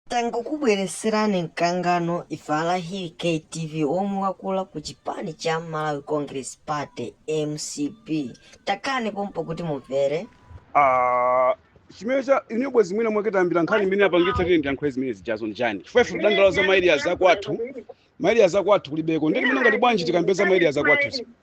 Tangokubweretserani mkangano ife a Laki KTV womwe wakula ku chipani cha Malawi Congress Party, mcp. Takhalani pompo kuti mumvere. Ah, chimene cha ine bwezi mwina mwake tayambira nkhani imene yapangitsa kuti ndiyankhule zimene zijazo n'chani chifukwa ife tidandaula za ma area akwathu ma area akwathu kulibeko ndiye timanena ngati bwanji tikambe za ma area akwathu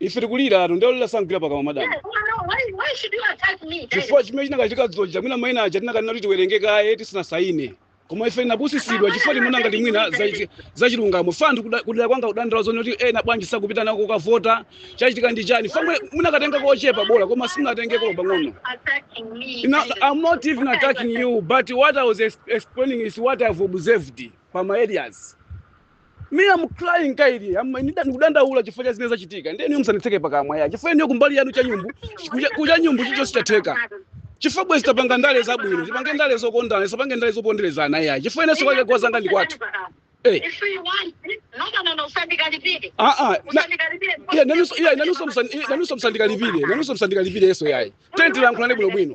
ife tikuliratu nde olira sagwira pakamwa madam chifukwa chimene chinakachitika zoja mwina maina aja tinakanena kuti tiwerenge kaye tisanasayine koma ife tinapusitsidwa chifukwa timaona ngati mwina za- zachilungamo chifukwa anthu kuda- kudera kwanga akudandaula zonena kuti ena bwanji sakupitanso kukavota chachitika ndi chani chifukwa mwe- munakatenga kochepa bola koma simunatengeko pang'ono Now, I'm not even attacking you, but what I was ex- explaining is what I've observed from my areas. me am crying kaya ndikudandaula chifukwa cha zimene zachitika ndiye inuyo musanditseke pakamwa ya chifukwa inuyo kumbali yanu cha nyumbu kucha- kucha nyumbu chicho chatheka chifukwa bwezi tapanga ndale zabwino tipange ndale zokondana tisapange ndale zoponderezana ya chifukwa inenso kwake kwa anzanga ndi kwathu Eh. If you want, no, no, no, no, usandikalipire. Ah, ah, na- Usandikalipire. Iya, nanunso iya nanunso musandi iya, nanunso musandikalipire nanunso musandikalipire yes iyayi tiyeni tilankhulane bwino bwino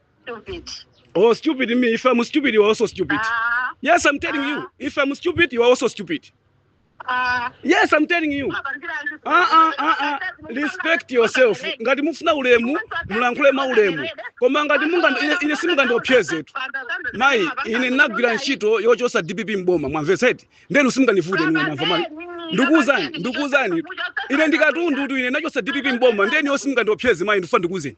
Stupid. Oh, stupid me. If I'm stupid, you are also stupid. Ah, Yes, I'm telling you. If I'm stupid, you are also stupid. ah. Yes, I'm telling you. Ah, ah, ah, ah. Respect yourself. Ngati mufuna ulemu, mulankhule mwaulemu. Koma ngati munga ine, ine simungandiopsezetu. Mai, ine ndinagwira ntchito yochotsa DPP m'boma, mwamvetsa eti. Nde inu simungandivute ine mwamva mai. Ndikuuzani, ndikuuzani. Ine ndi katundutu ine ndinachotsa DPP m'boma, nde inuyo simungandiopseze mai, ndifuna ndikuuzeni.